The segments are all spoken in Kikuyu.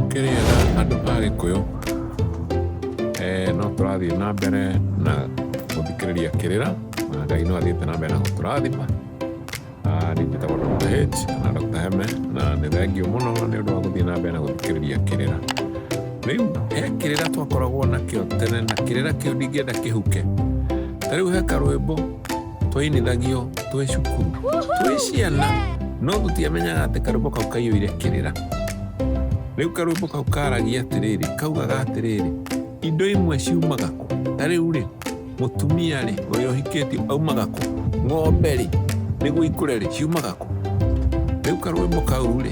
Mũkĩrĩega andũ a Gĩkũyũ, eh, no tũrathiĩ na mbere na gũthikĩrĩria kĩrĩra na Ngai no athiĩte na mbere na gũtũrathima Ah, niĩ njĩtagwo Dr. H na Dr. Heme na nĩ thengiũ mũno nĩ ũndũ wa gũthiĩ na mbere na gũthikĩrĩria kĩrĩra rĩu he kĩrĩra twakoragwo nakĩo tene na kĩrĩra kĩu ndingĩenda kĩhuke ta rĩu he karwĩmbo twainithagio twĩ cukuru twĩ ciana no tũtiamenyaga atĩ karwĩmbo kau kaiyũire kĩrĩra rĩu karwĩmbo kau karagia atĩrĩrĩ kaugaga atĩrĩrĩ indo imwe ciumaga kũ ta rĩu rĩ mũtumia rĩ ũrĩa ũhikĩtio aumaga kũ ng'ombe rĩ nĩguo ikũre rĩ ciumaga kũ rĩu karwĩmbo kau rĩ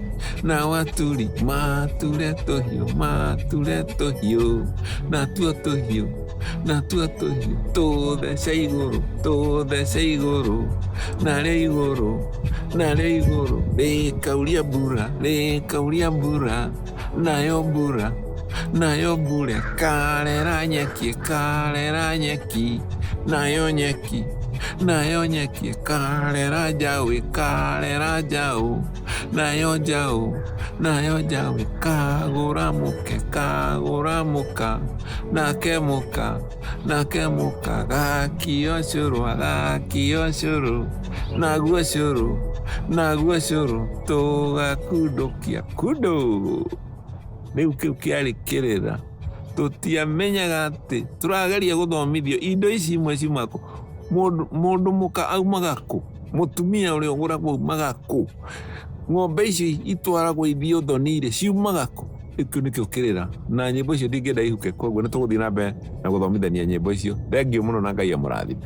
na waturi mature tũhiũ mature tũhiũ natuo tũhiũ natuo tũhiũ tũthece igũrũ tũthece igũrũ narĩ igũrũ narĩ igũrũ rĩkauria mbura rĩkauria mbura nayo mbura nayo mbura karera nyeki karera nyeki nayo nyeki nayo nyeki karera njaũ karera njaũ nayo njaũ nayo njaũ kagũra mũke kagũra mũka nake mũka nake mũka gakio cũrũ agakio cũrũ naguo cũrũ naguo cũrũ tũgakundũkia kundũ rĩu kĩu kĩarĩ kĩrĩra tũtiamenyaga atĩ tũrageria gũthomithio indo ici imwe ciumaga kũ mũndũ mũka aumaga kũ. Mũtumia ũrĩa ũgũragwo umaga kũ? Ng'ombe icio itwaragwo ithio thoni-rĩ ciumaga kũ? Kĩu nĩkĩo kĩrĩra na nyĩmbo icio ndingĩenda ihuke, koguo nĩ tũgũthiĩ na mbere na gũthomithania nyĩmbo icio. Thengiũ mũno na Ngai amũrathime.